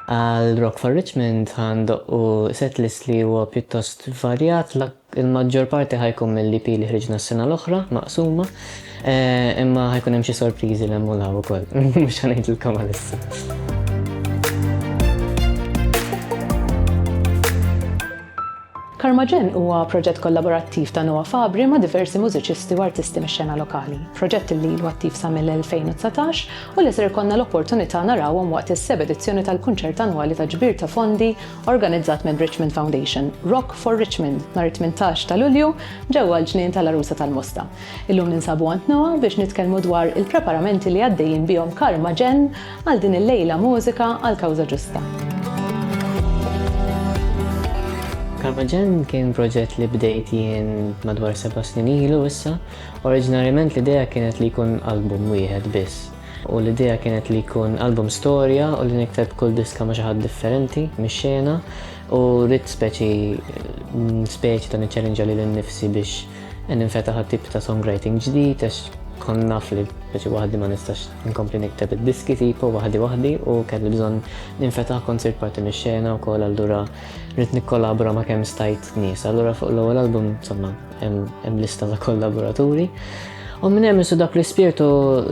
Għal Rock for Richmond ħa ndoqqu setlist li huwa pjuttost varjat, il-maġġor parti ħa jkun mill-EP li ħriġna s-sena l-oħra, maqsuma, eh, imma ħajkun hemm xi sorpriżi l-hemm u law ukoll, mhux ħanejdilkom għalissa. Karmaġen huwa proġett kollaborattiv ta' Noah Fabri ma' diversi mużiċisti u artisti mix-xena lokali, proġett li ilu attiv sa mill-2019 u li ser ikollna l-opportunità narawhom waqt is-seb' edizzjoni tal-kunċert annwali ta' ġbir ta' fondi organizzat mir-Richmond Foundation, Rock for Richmond, nhar it-tmintax ta' Lulju ġewwa l-Ġnien tal-Għarusa tal-Mosta. Illum ninsabu għand Noah biex nitkellmu dwar il-preparamenti li għaddejjin bihom Karmaġen Għal din il-lejla mużika għal kawża ġusta. Karmaġen kien proġett li bdejt jien madwar seba' snin ilu issa. Oriġinarjament l-idea kienet li jkun album wieħed biss. U l-idea kienet li jkun album storja u li nikteb kull diska ma' xi ħadd differenti mix-xena u rrid speċi speċi ta' niċċellinġa lili nnifsi biex Qed ninfetaħ għal tip ta' songwriting ġdid għax kont naf li biex waħdi ma nistax inkompli nikteb id-diski tipo waħdi waħdi u kelli bżonn ninfetaħ kont sirt parti mix-xena wkoll allura rrid nikkolabora ma' kemm stajt nies. Allura fuq l-ewwel album insomma hemm lista ta' kollaboraturi. U minn hemm isu dak l-ispirtu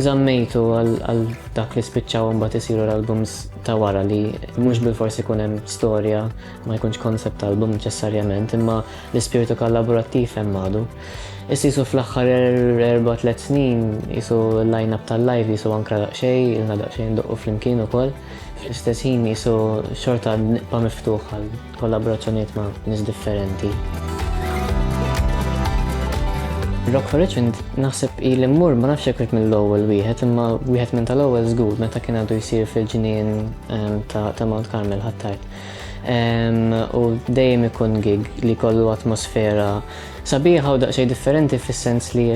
żammejtu għal dak li spiċċaw imbagħad isiru l-albums ta' wara li mhux bil-forsi jkun hemm storja ma jkunx koncept album neċessarjament imma L-ispirtu kollaborattiv hemm għadu. Issa jisu fl-aħħar er-, erba' tliet snin jisu l-line-up tal-live jisu ankra daqsxej, ilna daqsxej ndoqqu flimkien ukoll. Fl-istess ħin jisu xorta nibqa' miftuħ għal kollaborazzjonijiet ma' nies differenti. Rock for Richmond naħseb ili mmur ma nafx jekk mill-ewwel wieħed imma wieħed minn tal-ewwel żgur meta kien għadu jsir fil-ġnien ehm, ta' Mount Carmel ħattart. u dejjem ikun gig li kollu atmosfera sabiħa u daqsxejn differenti fis-sens li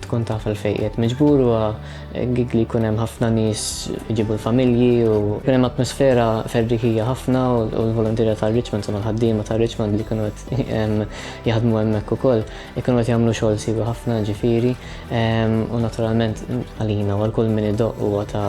tkun taf għal fejqiet miġbur u gig li jkun hemm ħafna nies iġibu l-familji u kien hemm atmosfera ferrieħija ħafna u l-volontirja ta' Richmond u mal-ħaddiema ta' Richmond li kienu qed jaħdmu hemmhekk ukoll ikunu qed jagħmlu xogħol siewi ħafna ġifieri u naturalment għalina u għal kull min idoqq huwa ta'